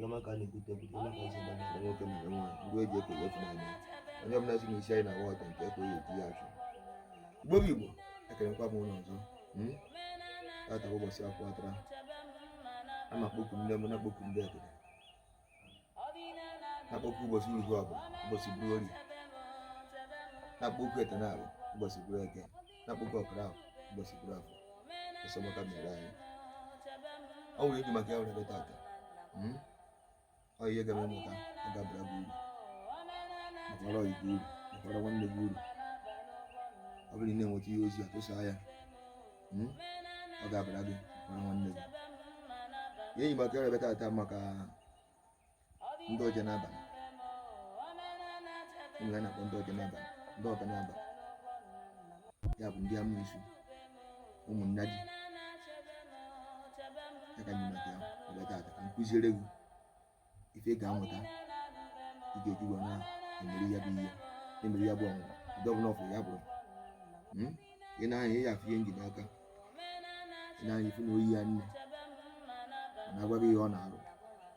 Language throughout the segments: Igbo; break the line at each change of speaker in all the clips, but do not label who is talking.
Yọma ka a na-ekwute ekwute maka nsogbu anyị na nwoke mụrụ nwa ndị eji ekele efu n'anya onye ọbụla si n'isi anyị na-awa ọta nke ekwe ya eti ya achụ Igbo bụ Igbo ekelekwa m ụnụ ọzọ hmm? tata ụbọchị akwụ atara a na-akpọku nne m na-akpọku ndị ekele na-akpọku ụbọchị uruhu ọbụla ụbọchị bụrụ orie na-akpọku etenalụ ụbọchị bụrụ eke na-akpọku ọkara ahụ ụbọchị bụrụ afọ esomọta mere anyị ọ nwere iji maka ya were bịa tata hmm? ọ ihe ị ga-amụta ọ ga-abara gị uru bakwara ọyị gị uru bakwara nwanne gị uru ọ bụrụ na ị na-enweta ihe ozi a tụsaa ya hmm? ọ ga-abara gị bakwara nwanne gị ihe iji maka ya were bịa tata maka ndị oje n'abalị enwere na-akpọ ndị oje n'abalị ndị ọga n'abalị ya bụ ndị amusu ụmụnna ji maka ya were bịa taata ka m kụziere gị ife ị ga-amụta ị ga-eji wee na-emeri ya bụ ihe na-emeri ya bụ ọnwụnwa ụdị ọbụla ọ bụ ya bụrụ hmm? ị na-anya ya afụ ihe njide aka ị na-anya ifu na oyi ya nne na-agwa gị ihe ọ na-arụ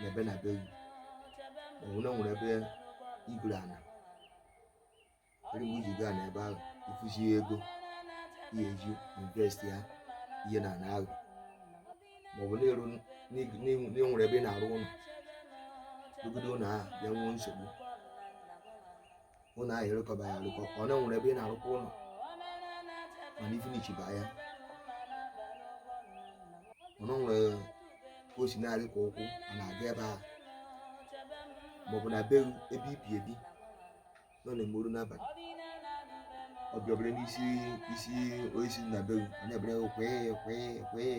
n'ebe na be gị maọbụ na enwere ebe i goro ana eri mgbe i ji gaa n'ebe ahụ ịfụzi ego ị ga-eji invest ya ihe na ana ahụ maọbụ na enwere ebe ị na-arụ ụlọ dogodo ụlọ ahụ bịa nwee nsogbu ụlọ ahụ ịrụkọba ya arụkọ ọ na nwere ebe ị na-arụkwa ụlọ mana i finishi ba ya ọ na nwere ka o si na-arị ka ụkwụ a na-aga ebe ahụ maọbụ na be ebe i bi ebi na ọ na-eme ruo n'abalị ọ bịa bere n'isi osisi na be gị na-ebe kwee kwee kwee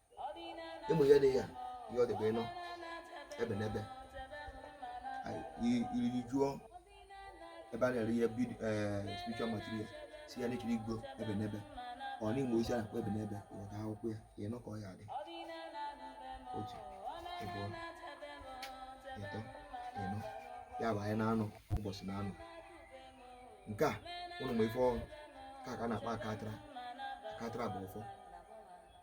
ị ma ihe dị ya ihe ọ dịbe nọ ebenebe iriri jụọ ebe a na-ere ihe eh, spiritual material si ya na ị chọrọ igo ebenebe ọ nwere osisi a na-akpọ ebenebe ị ghọta akwụkwọ ya ịnọ ka ọ ya-adị otu ịbụọ ịtọ ịnọ ya bụ ahịa na-anọ ụbọchị na-anọ nke a ụnụ ma ife ọ bụ ka ka a na-akpa akatara akatara bụ ụfọ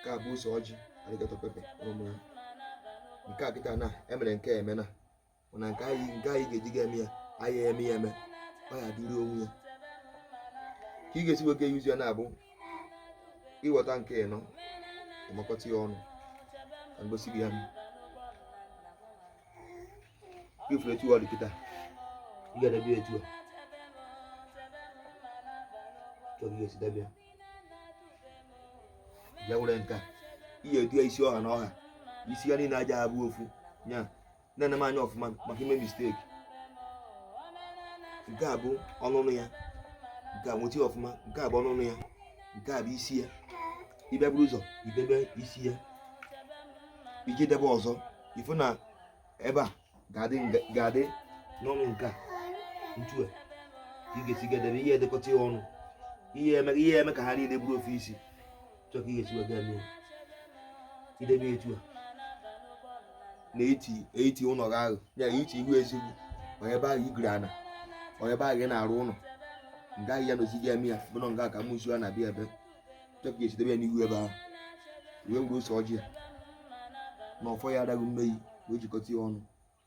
nke a bụ ose ọjị alligator pepper ọmụ ya nke a kịta na emere nke eme na mana nke anyị nke anyị ga-eji ga eme ya anyị eme ya eme ọ ya dịrị onwe ya ka ị ga-esi were yuzie ya na ọ bụ ị ghọta nke ịnọ ị makọta ya ọnụ ka m gosi gị ya ị fụrụ etu ọ dị kịta ị ga-edebe ya etu a chọrọ ihe si debe ya bịa were nke a ị ya-edo ya isi ọha na ọha isi ya niile a ja-abụ ofu ya na-ene m anya ọfụma maka ime misteki nke a bụ ọnụnụ ya nke a nweta ọfụma nke a bụ ọnụnụ ya nke a bụ isi ya ị bịa buru ụzọ idebe isi ya iji debe ọzọ ị fụ na ebe a ga-adị n'ọnụ nke a ntu a ka ị ga-esi edebe ị ya-edekọta ya ọnụ ị ya-eme ka ha niile bụrụ ofu isi chọọ ka ị ga-esi wee ga mee i debe etu a n'etiti ụlọ gị ahụ ya etiti ihu ezi ọ bụ ya ebe ahụ ị goro ana ọ bụ ya ebe ahụ ị na-arụ ụlọ nga ahụ ị ya-anọzi ga-eme ya bụrụ nga ka amụnsu a na-abịa ebe chọọ ka e si debe ya n'ihu ebe ahụ wee were ose ọjị ya na ọfọ ya adaghị mmeri wee jikọta ya ọnụ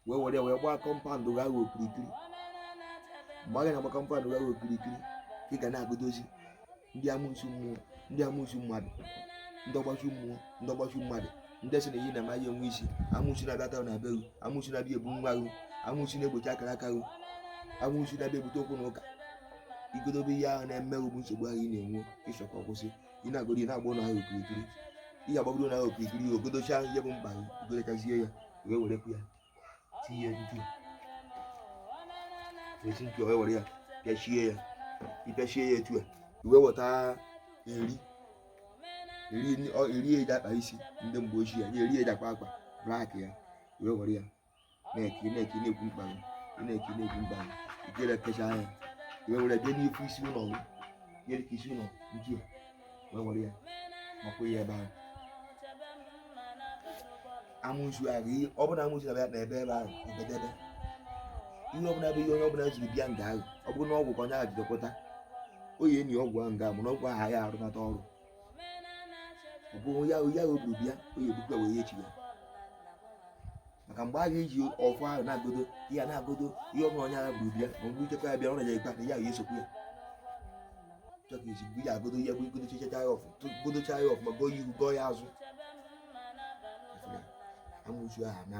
wee were ya wee gbaa kọmpandụ gị ahụ okirikiri mgbe ị ga na-agba kọmpandụ gị ahụ okirikiri ka ị ga na-agọdozi ndị amụnsu mmụọ ndị amụnsu mmadụ ndị ọgbachu mmụọ ndị ọgbachu mmadụ ndị sị na ihe ị na-eme ya enwe isi amụnsu na-abịa ata na be gị amụnsu na-abịa ebu nwa gị amụnsu na-egbochi akara aka gị amụnsu na-abịa ebute okwu na ụka ị gọdobe ihe ahụ na-eme bụ nsogbu ahụ ị na-enwe ị chọ ka ọ kwụsị ị na-agọdo ị na-agba ụlọ ahụ okirikiri ị ga-agbagodo ụlọ ahụ okirikiri ya agọdocha ihe bụ mkpa gị ị gọdochazie ya wee werekwu ya tinye ntu esi ntu wee were ya pịachie ya ị pịachie ya etu a i wee weta eri eri eji akpa isi ndị mgbe ochie ya eri eji akpa akpa blak ya wee were ya na-eke na-eke na-ekwu mkpa gị na-eke na-ekwu mkpa gị i jee kechaa ya i wee were bịa n'ifu isi ụlọ gị nyere ka isi ụlọ nju wee were ya makwa ya ebe ahụ amụnsu ahụ ọ bụrụ na amụnsu na-abịa ebe ebe ahụ o bedebe ihe ọbụla bụ ihe onye ọbụla jiri bịa nga ahụ ọ bụrụ na ọgwụ ka onye ahụ jidekọta ọ ya-eni ọgwụ ahụ nga mana ọgwụ ahụ ya arụnata ọrụ ọ bụ ya o buru bịa ọ ya-ebukwa wee ya echigha maka mgbe ị ga-eji ọfọ ahụ na-agọdo ya na-agọdo ihe ọbụla onye ahụ buru bịa ma mgbe ichekwa ya bịa ọ na-eje ikpe ya ya esokwu ya chọọ ka iji mgbe ya agọdo ya bụ ị gọdochacha ya ọfụ gọdocha ya ọfụma gọọ ya ihu gọọ ya azụ amụnsu ahụ na